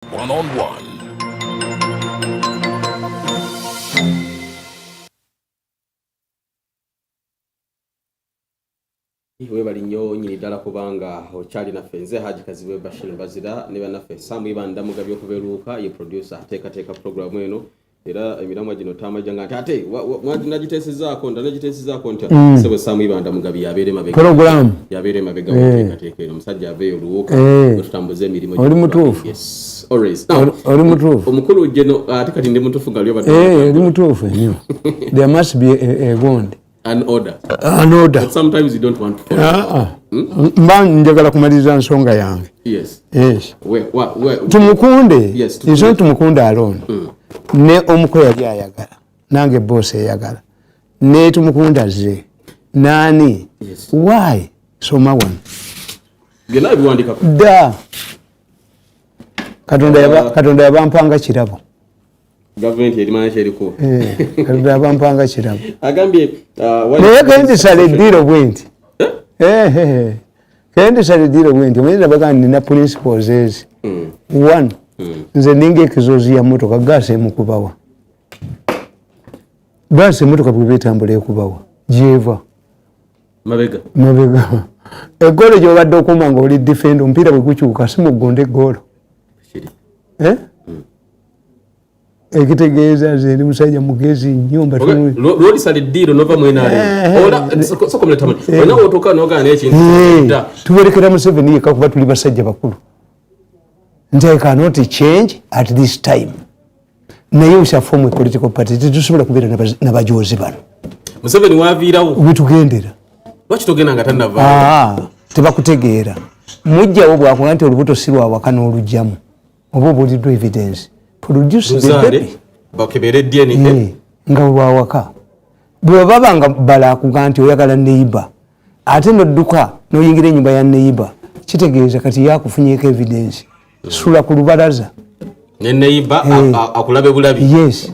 One on one. webali nnyo nyini ddala kubanga okyali naffe nze haji kazibwe bashir bazira ne banaffe samu ibanda mugabi okubeluuka ye producer ateekateeka pulogulaamu eno era emiramwa gino tamajanga nti ate nagiteesezaako nda nagiteesezaako ntya mm. sebo samu ibanda mugabi yabeera emabega program yabeera emabega eh. wateekateeka eno omusajja aveeyo oluwuuka eh. otutambuza emirimu oli mutuufu oli mutuufu omukulu jeno ate kati ndi mutuufu nga lyobadde eh, oli mutuufu nnyo there must be a, a, a an order. Uh, an order. But sometimes you don't want to follow. Uh, uh. Hmm? Mba njagala kumaliza nsonga yange. Yes. Yes. Where, where, where, tumukunde. Yes. Tumukunde. It's not tumukunde alone. Mm. Ne omuko yali ayagala. Nange boss ayagala. Ne tumukunde azze. Nani? Yes. Why? Soma one. Gena ebiwandika. Da. Katonda uh, yaba, katonda yabampanga kirabo. gavumenti erimanya kyeriko eh, abampanga kirabo agambye uh, naye kendisala eddiiro bwe nti eh? eh, kendisala eddiiro bwe nti omanyira bagamba nina principles ezi hmm. one hmm. nze ninga ekizozi ya motoka gaasi emukubawa gaasi emotoka bweba etambula ekubawa gyeva mabega mabega egoolo gyobadde okuuma nga oli defenda omupiira bwegukyuka simugonda egoolo ekitegeeza nze ndi musajja mugezi nnyo mbalwolisala eddiiro nova mwenaltuberekera museveni yekka kuba tuli basajja bakulu nti i cannot change at this time naye usafomu epolitical party tetusobola kubeera nabajozi bano museveni waviirawo wetugendera lwaki togenda nga tanava ah, tebakutegeera mujjawo bwakuba nti olubuto si lwawaka n'olugyamu oba obulidwa evidence produce the baby bakebere DNA eh, nga wawaka bwe baba nga bala kuganti oyagala neighbor ate no duka no yingira nyumba ya neighbor kitegeeza kati yakufunyeko evidence hmm. sula ku lubaraza ne neighbor eh. akulabe bulabi yes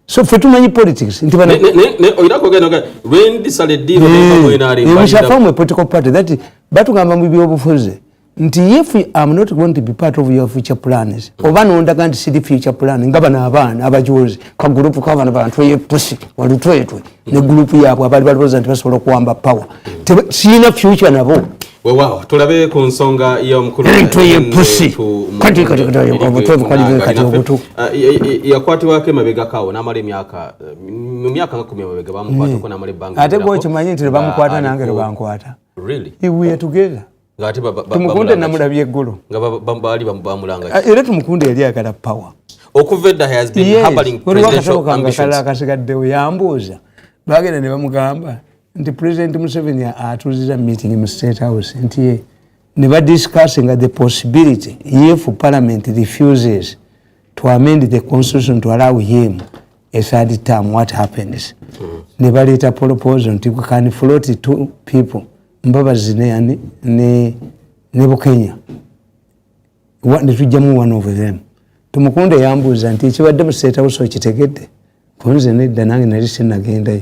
so fe tumanyi politics nti bana ne ne ne oyira ko geno ga when this are deal of the way na ri we shall form a political party that batu ngamba mu byo bufuze nti if i am not going to be part of your future plans mm. oba no ndaga nti sidi future plan ngaba na abana abajozi ka group ka bana bantu ye pusi wali twetwe mm. ne group yabo abali bali bozanti basobola kuamba power mm. sina future nabo weewaawo tulabe ku nsonga y'omukuluyakwatibwako emabegakaawo n'amala emyaka mu myaka nga kumi emabega bamukwatako n'amala ebbanga ate gwekimanyi nti lwebamukwata nange lwebankwata tumukunde namulabye eggulu era tumukunde yali agala power okuva edda has been harboring presidential ambitions akasigaddewo yambuuza bagenda ne bamugamba nti president museveni atuziza meeting mu state house nti ye ne ba discussinga the possibility if parliament refuses to amend the constitution to allow him a third term what happens mm. ne baleeta proposal nti we can float two people mbabazi ne, ne, ne, ne bukenya ne tujjamu one of them tumukunde yambuuza nti ekibadde mu state house okitegedde kunze nedda nange nali sinagendayo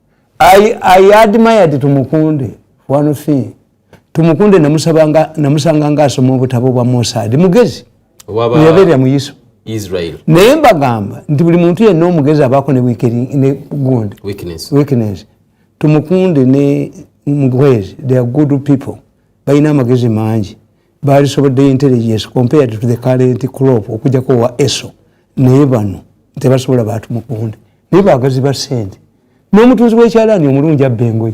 I, I admired Tumukunde one thing Tumukunde namusabanga namusanga ngasoma obutabo bwa Musa ndi mugezi yabeera mu Yesu Israel naye mbagamba nti buli muntu yenna omugezi abaako ne weakening ne gundi weakness weakness Tumukunde ne Mugwezi they are good people balina amagezi mangi baalisoboddeyo intelligence compared to the current crop okujjako owa eso naye bano tebasobola bantu mukunde naye bagazi ba sente n'omutunzi w'ekyalaani omulungi abba engoye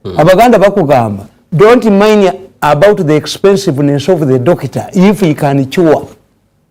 hmm. abaganda bakugamba don't mind about the expensiveness of the doctor if he can cure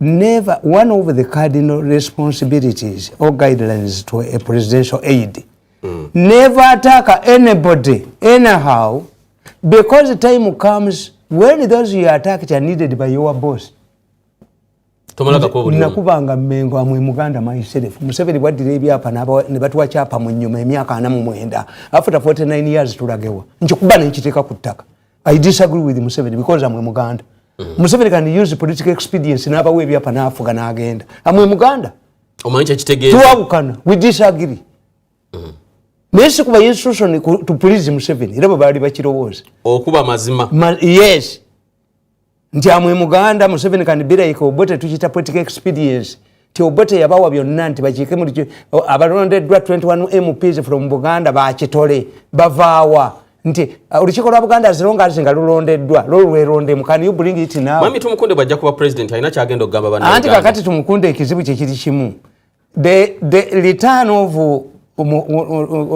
never one of the cardinal responsibilities or guidelines to a presidential aid mm. never attack anybody anyhow because the time comes when those you attacked are needed by your boss nakubanga mengo amwe muganda myself museveni bwaddira ebyapa ne batuwa kyapa mu nyuma emyaka ana mu mwenda after 49 years tulagewa nkikuba nenkiteeka ku ttaka i disagree with museveni because amwe muganda mm. museveni can use political expedience nabawa ebyapa nafuga nagenda amwe muganda twawukana we disagree mm. naye sikuba instruction to please museveni era bwebaali bakirowooza okuba mazima Ma, yes nti amwe muganda museveni can be like obote tukita political expedience ti obote yabawa byonna nti bakiike muli abalondeddwa 21 mps from buganda bakitole bavaawa nti uh, olukiiko lwa buganda zirongazi nga lulondeddwa lolwerondemu kan you bring it now mami tumukunde bwajja kuba president alina kyagenda okugamba bana anti kakati tumukunde ekizibu kyekiri kimu the the return of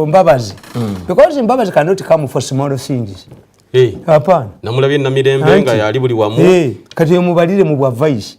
mbabazi hmm. because mbabazi cannot come for small things hapana namulabye namirembe nga yali buli wamu kati emubalire mu bwa vice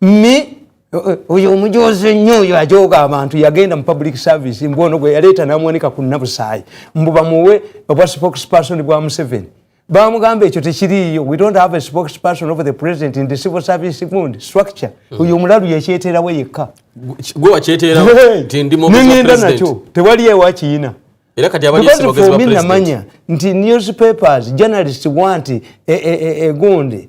mi oyo omujozi ennyo oyo ajooga abantu yagenda mu public service mbu ono gwe yaleeta namuwanika ku nabusaayi mbu bamuwe obwa spokesperson bwa museveni bamugamba ekyo tekiriiyo we don't have a spokesperson of the president in the civil service mund structure hmm. oyo omulalu yakyeterawo yekka nengenda nakyo tewali ewakiyina namanya nti newspapers journalist want egundi e, e, e,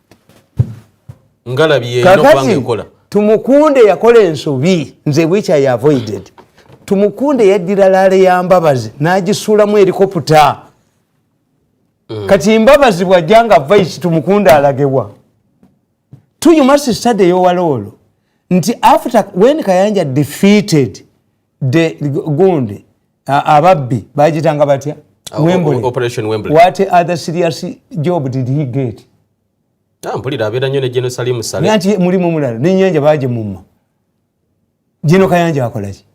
kakati tumukunde yakola ensobi nze bwikya ya avoided tumukunde yaddira laale ya mbabazi n'agisuulamu erikoputa mm. kati mbabazi bwajja nga vaisi tumukunde alagewa tuyumasi stade eyowaloolo nti after wen kayanja defeated de gundi ababbi bagitanga batya ah, wembley operation wembley what other serious job did he get ah, mpulira abeera nyo ne geno salimu sale nanti mulimu mulala nenyanja baje mumma geno kayanja akolaki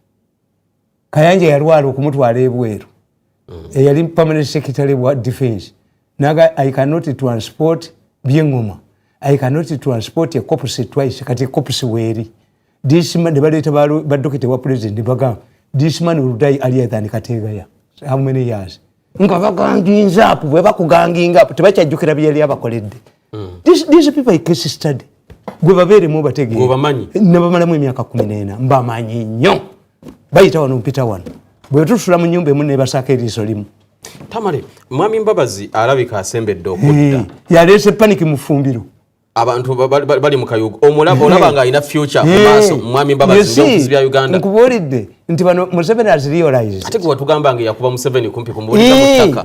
kayanja yalwala okumutwala ebweru mm. eyali permanent secretary wa defense naga i cannot transport byengoma i cannot transport a corpse twice kati corpse weri this man ne baleta balu ba doctor wa president baga this man will die earlier than kategaya how many years nga baganginza apo bwe bakuganginga apo tebachajukira byali abakoledde mm. these, these people i case study gwe babeeremu obategeebamanyi nabamalamu emyaka kumi neena mbamanyi nnyo bayita wano mpita wano bwe tusula mu nyumba emu nebasaako eriiso limu tamale mwami mbabazi alabika asembedde okudda yaleese panic mufumbiro abantu bali mukayugo omulaba nga alina future mumaaso mwami mbabazi bya uganda nkubuulidde nti bano museveni aziriolaize ate gwe watugamba nga eyakuba museveni kumpi kumbuulira mu ttaka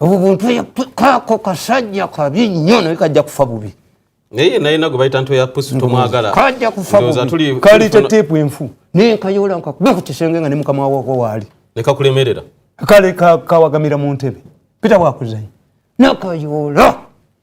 obwo buntu kaako kasajja kabi nnyo naye kajja kufa bubi naye naye nago bayita nto ya pusi tomwagala kajja kufa bubi kalita teepu enfu naye nkayola nkakuba ku kisenge nga ne mukama wako waali nekakulemerera kale kawagamira mu ntebe pita wakuzanyo nakayola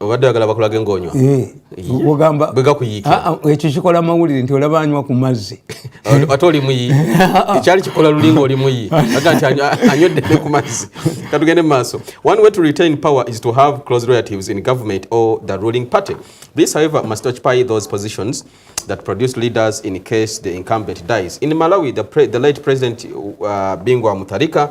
obadde agala bakulage ngonywa eh, ogamba bwegakuyiika ah, ah, ekyo kikola amawulire nti olaba anywa ku mazzi ate oli muyi ekyali kikola lulinga oli muyi aga nti anyweddene ku mazzi katugende mu maaso one way to retain power is to have close relatives in government or the ruling party this however must occupy those positions that produce leaders in case the incumbent dies in malawi the, pre the late president uh, bingwa mutharika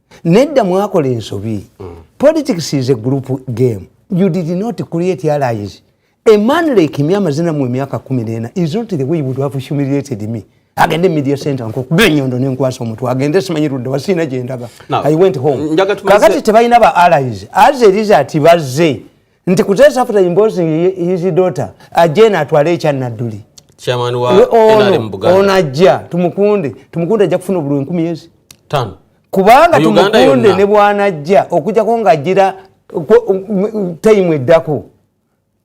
nedda mwakola ensobi mm. politics is a group game you did not create allies a man like me amazina mu emyaka kumi nena is not the way you would have humiliated me agende media center nkukuba enyondo nenkwasa omutwe agende simanyi ludde wasiina gyendaga i went home kakati tebalina ba allies as a result bazze nti kutesa after imposing his daughter ajena atwale ekya nadduli ono ajja tumukunde tumukunde ajja kufuna obululu enkumi ezi kubanga tumukunde ne bwanajja okujjako ng'ajjira tayimu eddako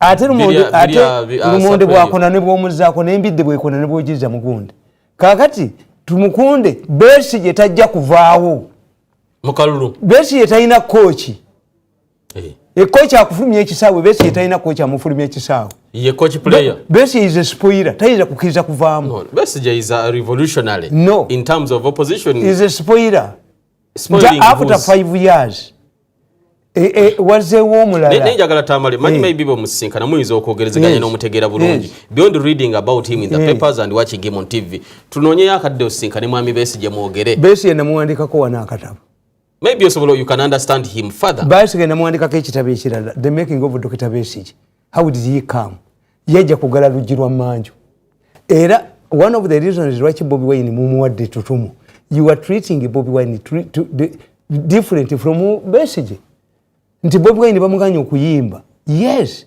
ate lumonde bwakona ne bwomuzaako nembidde bwekona ne bwojiriza mugunde kakati tumukunde besi gye tajja kuvaawo mukalulu besi ye talina kooki eh. ekoki akufulumya ekisaawe besi yetalina koki amufulumya ekisaawe ye koki player besi is a spoiler tayinza kukiriza kuvaamu no. besi je is a revolutionary no. in terms of opposition is a spoiler nja after five years e, e, wazewo omulala njagala tamale manyi eh. maybe bomusisinkana muyinza okwogerezeganya yes. n'omutegeera bulungi yes. beyond reading about him in the yes. papers and watching him on tv tunoonyeyo akadde osisinkane mwami besi gye mwogere besi yenamuwandikako wano akatabo maybe osobola you can understand him further basigenda muwandikako ekitabo ekirala the making of dr besige how did he come yajja kugala luggi lwa manju era one of the reasons lwaki bobi wine mumuwadde tutumu you are treating bobi wine to, to, to, different from besige nti bobi wine bamuganya okuyimba yes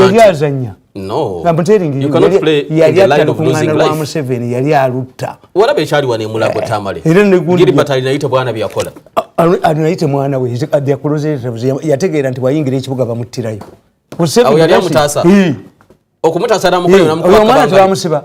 yali azanya yali atta lukuŋŋaana lwa museveni yali alutta era negundianayite mwana we yategeera nti wayingira ekibuga bamuttirayo okumutaasa namukola namukwata bamusiba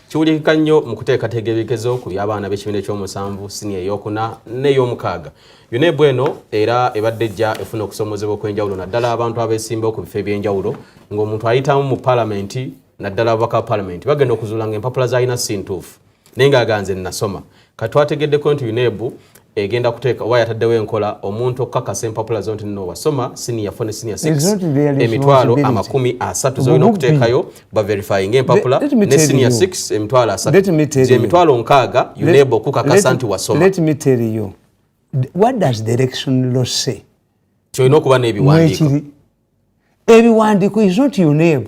kiwulikika nnyo mu kuteekateeka ebikezo ku by'abaana b'ekibiina eky'omusanvu siniya ey'okuna n'ey'omukaaga unebu eno era ebadde ejja efuna okusoomozebwa okw'enjawulo naddala abantu abeesimbawo ku bifo eby'enjawulo ng'omuntu ayitamu mu palamenti naddala ababaka ba palamenti bagenda okuzuula nga empapula zalina si ntuufu naye ng'aganze nnasoma kati twategeddeko nti UNEB egenda kuteeka oba yataddewo enkola omuntu okukakasa empapula zo nti nno wasoma siniya fo ne siniya emitwalo amakumi asatu zolina okuteekayo baverifyinga empapula ne siniya s emitwalo asatu gyemitwalo nkaaga uneba okukakasa nti wasoma kyolina okuba n'ebiwandiiko ebiwandiiko is not uneb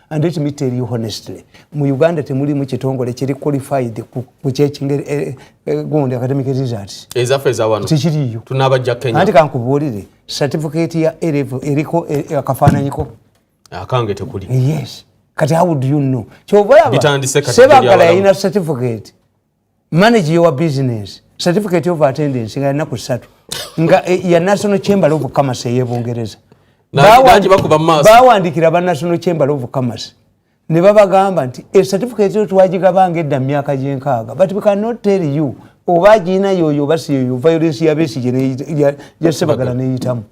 and let me tell you honestly mu uganda temulimu kitongole kiri qualified kukyekingeri eh, eh, gundi academic results ezaffe ezawano tekiriyo tunabajja kenya anti kankubuulire certificate ya erevo eriko eh, akafaananyiko akange tekuli yes kati how do you know kyobalaba sebagala yalina certificate manage your business certificate of attendance nga yanaku satu nga eh, ya national chamber of commerce eye bungereza bawandikira ba national chamber of commerce ne babagamba nti e certificate yo twagigabanga edda mu myaka gyenkaaga but we cannot tell you oba agirina yoyo oba siyoyo violence ya besigye jasebagala neyitamu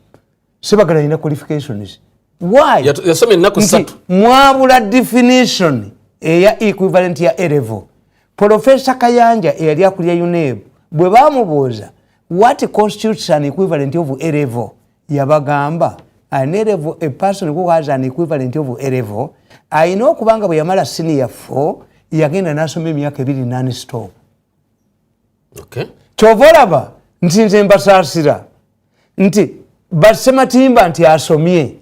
sebagala alina qualifications why yasoma ennaku ssatu mwabula definition eya equivalent ya erevo profesa kayanja eyali akulya uneb bwe bamubuuza what constitutes an equivalent of erevo yabagamba an erevo a person who has an equivalent of erevo alina okubanga bwe yamala siniya 4 yagenda n'asoma emyaka ebiri nanstop kyova olaba nti nze mbasaasira nti basematimba nti asomye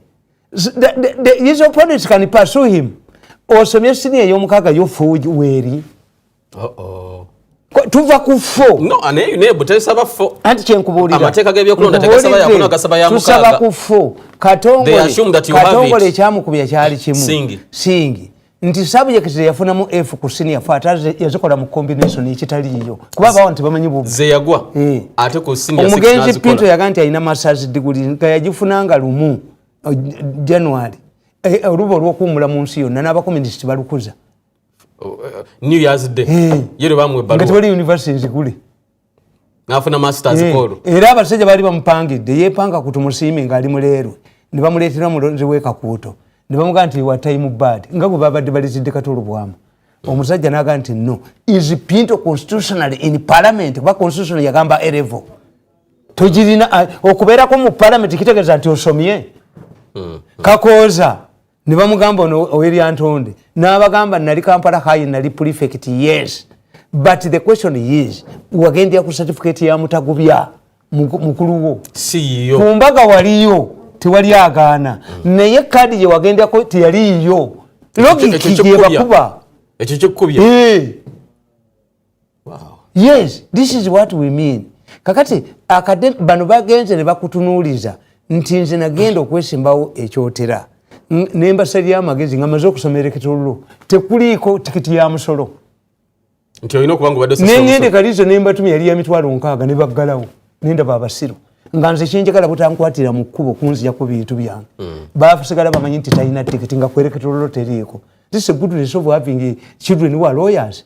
his opponents can pursue him osomye sini ey'omukaaga yo fuuji weeri tuva ku fo anti kyenkubuuliratusaba ku fo katongole ekyamukubya kyali kimu singi nti subject zeyafunamu f ku senior fo ate yazikola mu combination ekitaliiyo kuba abawo nti bamanyi buzeyagwa eh. ate ku senior omugenzi pinto yaga nti alina masters diguli nga yagifunanga lumu uh, january eh, eh, oluba olwokuwumula mu nsi yonna n'abakomunisiti balukuza oh, new years day yero bamwe baluwa nga tewali university nzigule nafuna masters eh, kolu era abasajja bali bamupangidde yepanga ku tumusiime ng'ali muleerwe ne bamuleetera mulonzi w'ekakuuto ne bamugaa nti wa time bad nga bwe babadde balizidde katolo bwamu omusajja naga nti no is pinto constitutional in parliament kuba constitutional yagamba erevo togirina ah, okubeerako mu parliament kitegeeza nti osomye hmm. kakooza ne bamugamba ono owelyantonde n'abagamba nali kampala hayi nali prefect yes but the question is wagendya ku certificate ya mutagubya mukuluwo ku mbaga waliyo tewali agaana mm. naye kaadi gye wagendako teyaliyo logiki gyebakuba ekyo kyekukubya eh. yes this is what we mean kakati akade bano bagenze ne bakutunuuliza nti nze nagenda okwesimbawo ekyotera nembasalya amagezi nga maze okusoma ereketollo tekuliiko tikiti ya musolo nengende kalizo nembatuma yali ya mitwalo nkaaga ne baggalawo nendaba abasiru nga nze kyenjagala butankwatira mu kkubo kunzija ku bintu byange hmm. basigala bamanyi nti talina tikiti nga kwereketollo teriiko this is a good resolve having children who are lawyers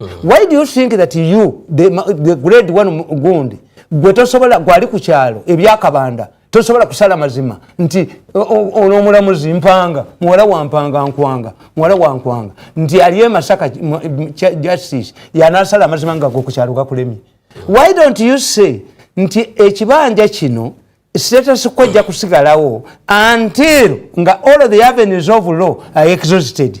mm. why do you think that you the, the grade one gundi gwe tosobola gwali ku kyalo ebyakabanda tosobola kusala mazima nti ono omulamuzi mpanga muwala wampanga nkwanga muwala wankwanga nti ali emasaka justice yanasala amazima nga gokukyalo gakulemye why don't you say nti ekibanja kino status ko ejja kusigalawo until nga all the avenues of law are exhausted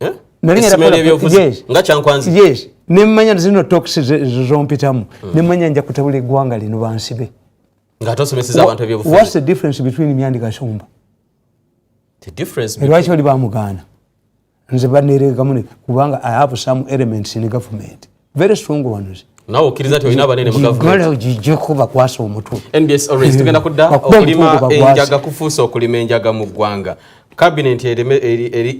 eh? nga kyankwanzi yes nemanya zino tox zompitamu hmm. nemanya nja kutabula eggwanga lino bansibe whats the difference between myandi kasumba lwaki oli bamugaana nze baneregamu kubanga i have some elements in government very strong ones nawe okkiriza nti olina abanene mugavumentigyeko bakwasa omutwe nbs orange tugenda kudda okulima enjaga kufuusa okulima enjaga mu ggwanga kabinenti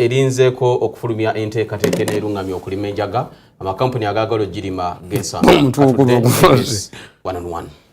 erinzeeko okufulumya enteekateeka eneerungamya okulima enjaga amakampuni agaagala ogirima gesangawananwan